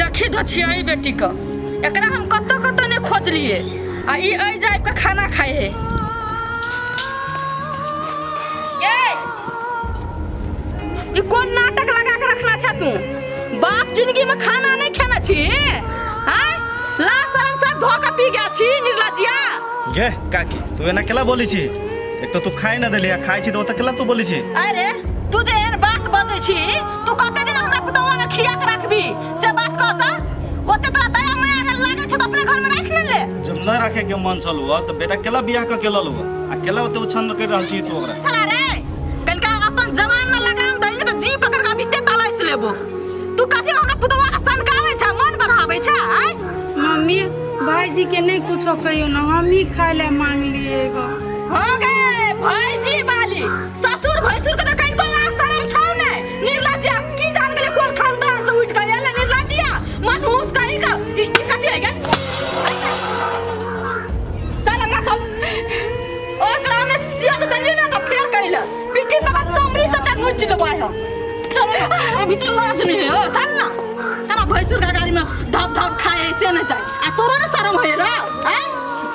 देखी धो छियै एहि बेटीके एकरा हम कतऽ कतऽ नहि खोजलियै आ ई एहि जाइब के खाना खाइ है ये ई कोन नाटक लगा के रखना छै तू बाप जिंदगी में खाना नहीं खाना छी हाँ ला शर्म सब धो के पी गया छी निर्लजिया घे काकी तू एना केला बोली छी एक तो तू खाए ना देली आ खाए छी तो ओतऽ केला तू बोली छी अरे तू जे एहन बात बजै छी तू कते दिन हमरा पुतवा के खिया के रखबी से बात कह त ओते तोरा दया माया न लागे छ त अपने घर में राख न ले जब न रखे के मन चल हुआ तो बेटा केला बियाह क के लल हुआ आ केला ओते उछन कर रहल छी तू ओकरा साला रे कनका अपन जवान में लगाम दैले त जी पकड़ के बीते तलाइस लेबो तू कते हमरा पुतवा के सनकावे छ मन बढ़ावे छ आय मम्मी भाईजी के नहीं कुछ कहियो ना हम ही खाए ला मांग लिए गो हो गए भाईजी वाली ससुर भैसुर के देखैन को लाज शरम छौ ने निर्लज्जा की जान गेले कोन खानदान से उठ के एले निर्लज्जा मनहूस कहीं का ई ई कथि है गे चल हमरा चल ओ ग्राम में सिया तो दलियो ना तो फेर कइले पिट्ठी पर बात चमड़ी सब ना नोच के बाय हो चल अभी तो लाज नहीं है ओ चल ना तेरा भैसुर का गाड़ी में ढप ढप खाए ऐसे ना जाए आ तोरा ना शरम है रे हैं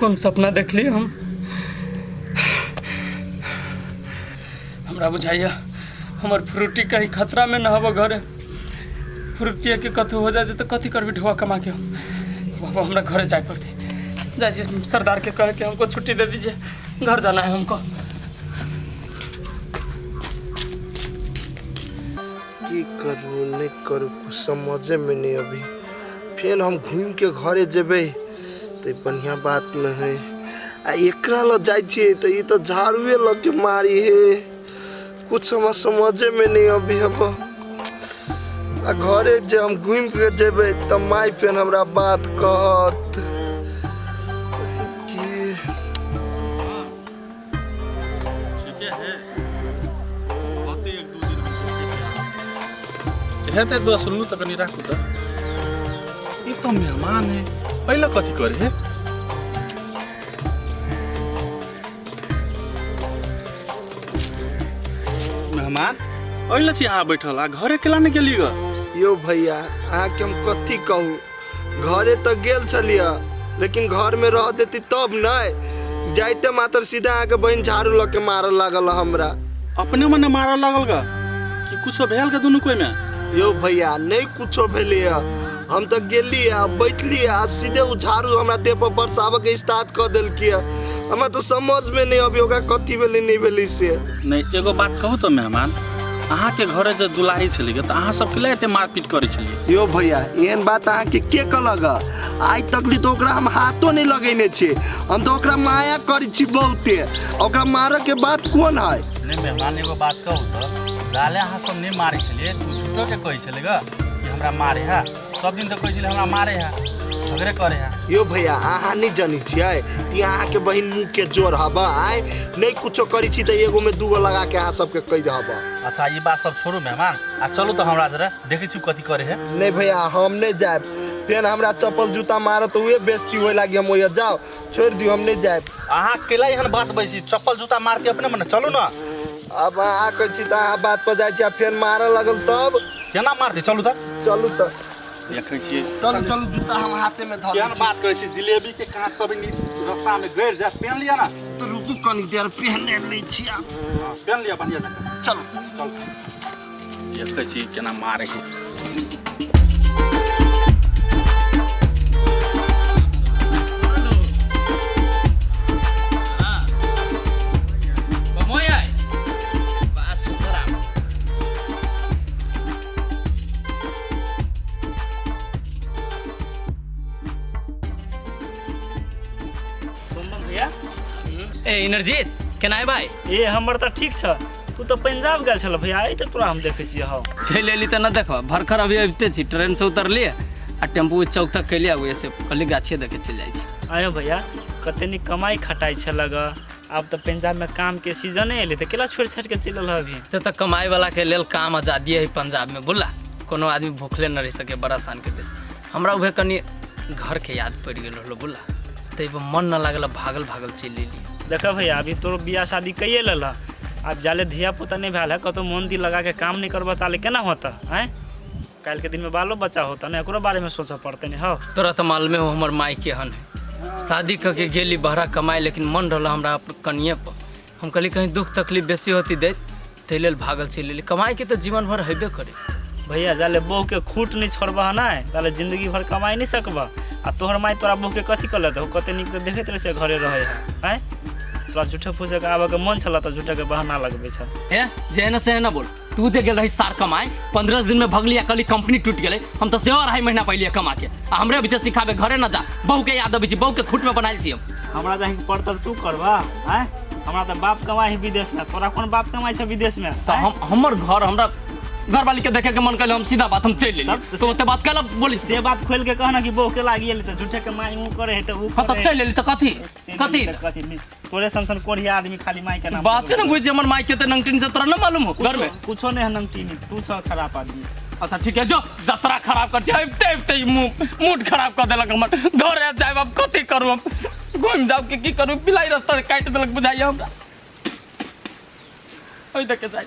कोन सपना देखली हम हमरा बुझाइया हमर फ्रूटी कहीं खतरा में न हबो घरे फ्रूटिया के कथू हो जाते तो कथी करबी ढोआ कमा के हम बाबा हमरा घरे जाए पड़ते जाए छी सरदार के कह के हमको छुट्टी दे दीजिए घर जाना है हमको की करू नहीं करू कुछ समझे में नहीं अभी फिर हम घूम के घरे जेबे तऽ बढ़िया बात ने है आ एकरा लग जाइ छियै तऽ ई तऽ झाड़ूए लऽ के मारी हे कुछ हमरा समझे में नहीं अभी अब आ घरे जे हम घूम के जेबे तऽ माय फेन हमरा बात कहत हेतै दस रुपये तऽ कनि राखू तऽ ई तऽ मेहमान है पहिले कथी करे है मेहमान अइले छी अहाँ बैठल आ घरे केला नहि गेली ग यो भैया अहाँके हम कथी कहू घरे तक गेल छलिए लेकिन घर में रह देती तब नहीं जाइते मात्र सीधा आके बहन झाड़ू लग के मार लागल हमरा अपने मने मारऽ लगल ग कि कुछो भेल ग दुनू कोई में यो भैया नहीं कुछो भेले है हम तो गेली है बैठली है आ सीधे उ झाड़ू हमरा देह पर बरसाबे के स्टार्ट कर दिल किया हमरा तो समझ में नहीं अभी ओकरा कथी भेली नहीं भेली से नहीं एगो बात कहू तो मेहमान अहाँके घरे जे दुलारी छलिए तऽ अहाँ सबके लए एते मारपीट करै छलिए यो भैया एहन बात अहाँके के कहलक हँ? आइ तकली तो ओकरा हम हाथो नहीं लगेने छे हम तो ओकरा माया करी छी बहुते ओकरा मारे के बात कोन है ले मेहमान एगो बात कहू तऽ जाले अहाँ सब नहि मारै छलियै तू झूठो के कहै छलै ग कि हमरा मारे है सब दिन तऽ कहै छलै हमरा मारे है झगड़े करे है यो भैया अहाँ नहीं जानी छियै कि अहाँ के बहिन मुँह के जोर हब आय नहीं कुछो करी छी तो एगो में दूगो लगा के अहाँ सबके कह दे हब अच्छा ई बात सब छोड़ू मेहमान आ चलू तऽ हमरा जरे देखै छी कथी करे है नहीं भैया हम नहीं जाए फेन हमरा चप्पल जूता मारो तो उहे बेइज्जती होए लागी हम ओहिया जाओ छोड़ दियो हम नहीं जाए अहाँ केला एहन बात बैसी चप्पल जूता मारती अपने मने चलू ना अब अहाँ कहै छी तऽ अहाँ बात पर जाइ छी आ फेन मारऽ लगल तब केना मारती चलू तऽ चलू तऽ देखै छियै चलू चलू जूता हम हाथे में धर केहन बात करै छी जिलेबी के कांच सब नी रास्ता में गड़ जाए पेन लिया ना तो रुकू कनी देर पहने लै छी आब पेन लिया बढ़िया जकाँ चलू चल देखै छी केना मारै छै ए इनरजीत केना है भाई ए हमर तऽ ठीक छ तू तऽ पंजाब गेल छल भैया एहि तऽ तोरा हम देखै छियै हौ चलि अयली तऽ नहि देखबह भरखर अभी अबिते छी ट्रेनसँ उतरलियै आ टेम्पू चौक तक केलियै आब ओहिसँ कहली गाछे देखे चलि जाइ छी आयो भैया कते नीक कमाई खटाई छल ग आब तऽ पंजाब में काम के सीजन एलै तऽ केला छोड़ि छाड़ि के चलि रहल अभी से तऽ कमाइ वाला के लेल काम आजादी है पंजाब में बुला कोनो आदमी भूखले न रह सके बड़ा आसान के देश हमरा उहे कनी घर के याद पड़ गेल रहलो बोला तै पर मन न लागल भागल भागल चल लेली देख भैया अभी तोर बियाह शादी कइए लेला अब जाले धिया पुता नहीं भेल है कतो मन दिल लगा के काम नहीं करबा ताले केना होता हैं काल के दिन में बालो बच्चा होता ना एकरो बारे में सोचा पड़ते नहीं हो तोरा तो मालूमे हो हमर माई के हन है शादी करके गेली बहरा कमाए लेकिन मन रहल हमरा अपन कनिए पर हम कहली कहीं दुख तकलीफ बेसी होती देत ताहि लेल भागल चलि एली कमाई के तऽ जीवन भर हेबे करे भैया जाले बहू के खूट नहीं छोड़बा ना ताले जिंदगी भर कमाई नहीं सकबा आ तोहर माई तोरा बहू के कथी कर लेते हो कते निक देखैत रहे से घरे रहे है हैं तोरा झूठे फूसे के आबे के मन छला तऽ झूठे के बहाना लगबे छ ए जेहन सेहन बोल तू जे गेल रही सार कमाए पंद्रह दिन में भगली आ कली कंपनी टूट गेले हम तो सेहो अढ़ाई महीना पहले कमा के आ हमरे बीच सिखाबे घरे न जा बहू के याद अबै छी बहू के खुट में बनायल छी हम हमरा जाहि के पड़तर तू करबा हैं हमरा त बाप कमाई है विदेश में तोरा कोन बाप कमाई छै विदेश में तो हम हमर घर हमरा घर वाली के देखे के मन कइले हम सीधा बात हम चल लेली तब तो तो ओते बात कल बोली से बात खोल के कहना कि बहू के लागी एले त झूठे के माई ऊ करे है त ऊ हम तो करे है। चल लेली तो कथी से कथी? दिल्ली तक कथी नि- तोरे सन सन कोढ़िया आदमी खाली माई के नाम बाते ना बुझे हमर माई के त नमकीन से तोरा ना मालूम हो घर में कुछो नहीं है नमकीन तू छ खराब आदमी अच्छा ठीक है जो जतरा खराब कर जाए ते ते मुंह मूड खराब कर देलक हमर घर आ जाए अब कथी करू हम घूम जाओ के की करू पिलाई रास्ता से काट देलक बुझाइए हमरा ओइ देख के जाए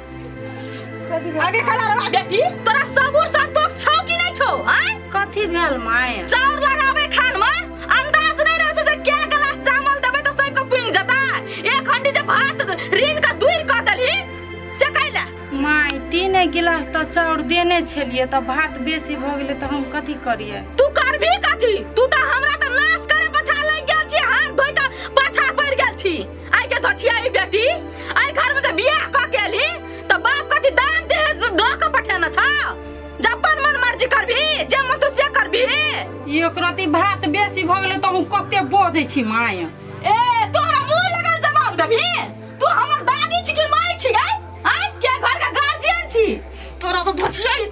आगे कला रवा बेटी तोरा सबूर संतोष छौ कि नहीं छौ आय कथी भेल माय चाउर लगावे खान में अंदाज नहीं रहे छै जे क्या गिलास चावल देबे तो सबके पुंग जता एक हंडी जे भात रीन का दूर क देली से कैला माय तीन गिलास तऽ चाउर देने छलियै तऽ भात बेसी भऽ गेलै तऽ हम कथी करियै तू करबी कथी तू तो हमरा तो नाश करे पछा लग गेल छी हाथ धोइ के पछा पड़ गेल छी आई के तो छिया ई बेटी आई घर में तो बियाह क के ली तो बाप कथी दान दे दो के पठेना छ जपन मन मर्जी करबी जे मन तू से करबी एक रति भात बेसी भऽ गेलै तऽ हम कते बजै छी माय ए तोरा मुंह लगल जवाब देबी तू हमर दादी छी कि माई छी गै आई के घर का गार्जियन छी तोरा तो धछिया ई-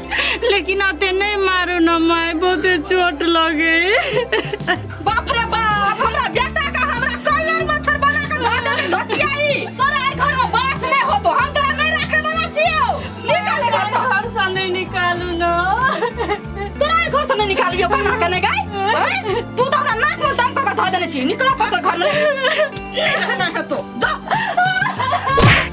लेकिन आते नहीं मारू ना माय बहुते चोट लगे बाप रे बाप हमरा बेटा का हमरा कलर मच्छर बना के धो दे धोचियाई तोरा ए घर में बास नहीं हो तो हम तोरा नहीं रखे वाला छियो निकाल घर से घर से नहीं निकालू ना तोरा ए घर से नहीं निकालियो कना के नहीं गई हैं? तू तो हमरा नाक में दम के धो देने छी निकल अपन घर में नहीं रहना है तो जा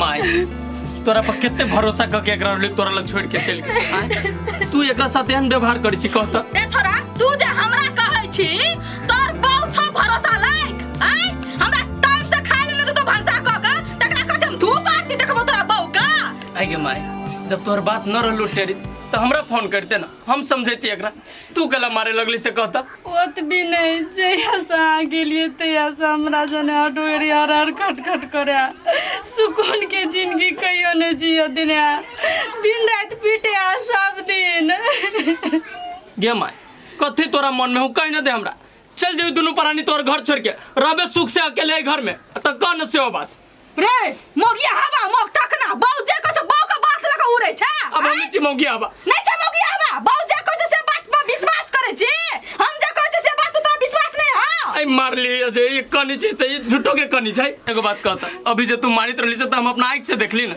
माय तोरा पर कितने भरोसा क के एकरा ले तोरा लग छोड़ के चल गई आय, तू एकरा साथ एहन व्यवहार करै छी कहता ए छोरा तू जे हमरा कहै छी तोर बहु छौ भरोसा लायक आय हमरा टाइम से खाय ले दे तो भरसा क के तकरा कते हम धूप आरती देखबो तोरा बहु का आगे माय जब तोहर बात न रहलो टेरी तो हमरा फोन करते ना हम समझैती एकरा तू गला मारे लगली से कहता ओतबी नहि जहियासँ अहाँ गेलियै तहियासँ हमरा जने हटोरी हर हर खट खट करे सुकूनके जिनगी कहियो नहि जियो दिन दिन राति पीटे आ सब दिन गे माय कथी तोरा मन में हूँ कह न दे हमरा चल जाऊ दुनू प्राणी तोर घर छोड़ के रहबे सुख से अकेले है घर में तो कह न से हो बात रे मोगिया हवा मोग टकना बाऊ जे कुछ बाऊ के बात लगा उड़े छै अब हम छी मौगी आबा नहीं छै मोगिया हवा बाऊ जे कुछ से बात पर विश्वास करे छी हम जे कुछ से बात पर तोरा विश्वास नहीं हां आई मार लिए जे ये कनी छी से ये झूठो के कनी छै एगो बात कहता अभी जे तू मारित रहली से त हम अपना आंख से देखली ना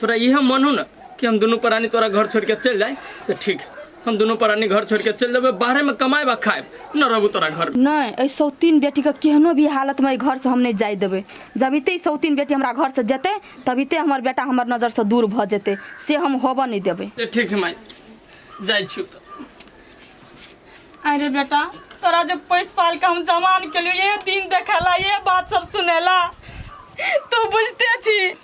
तोरा इहे मन हो ना कि हम दोनों प्राणी तोरा घर छोड़ के चल जाए तो ठीक हम दोनों प्राणी घर छोड़ के चल जाबे बाहरे में कमाए बा खाए न रहबू तोरा घर में नहीं ऐ सौतीन बेटी के केहनो भी हालत में घर से हम नहीं जाए देबे जब इते सौतीन बेटी हमरा घर से जेते तभी ते हमर बेटा हमर नजर से दूर भ जेते से हम होबऽ नहीं देबे तो ठीक है माई जाए छी तो अरे बेटा तोरा जो पैस पाल के हम जमान के लिए ये दिन देखेला ये बात सब सुनेला तू बुझते छी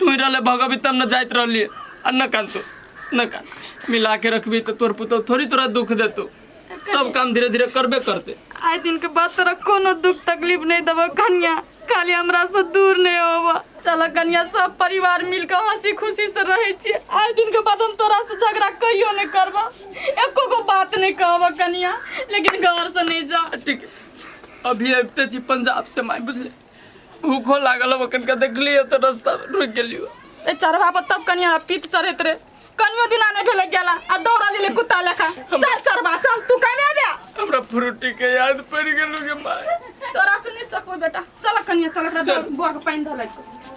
तू ही रहले भगवी तब न जाइत रहली आ न कान तू न कान मिला के रखबी तो तोर पुतो थोड़ी तोरा दुख देतो सब काम धीरे धीरे करबे करते आइ दिन के बाद तोरा कोनो दुख तकलीफ नहीं देबो कन्या खाली हमरा से दूर नहीं होबो चल कन्या सब परिवार मिल के हंसी खुशी से रहे छी आइ दिन के बाद हम तोरा से झगड़ा कहियो नहीं करबो एको गो बात नहीं कहबो कन्या लेकिन घर से नहीं जा ठीक है अभी अबते छी पंजाब से माय बुझले भूखो लागल अब कनका देखलिए तो रास्ता में रुक गेलियो ए चढ़वा पर तब कनिया पीत चढ़त रे कनियो दिना नहीं भेले गेला आ दौड़ा लेले कुत्ता लेखा चल चढ़वा चल तू कने आबे हमरा फ्रूटी के याद पड़ गेलू के माय तोरा से नहीं सकबो बेटा चल कनिया चल एकरा चल। बुआ के पानी धलै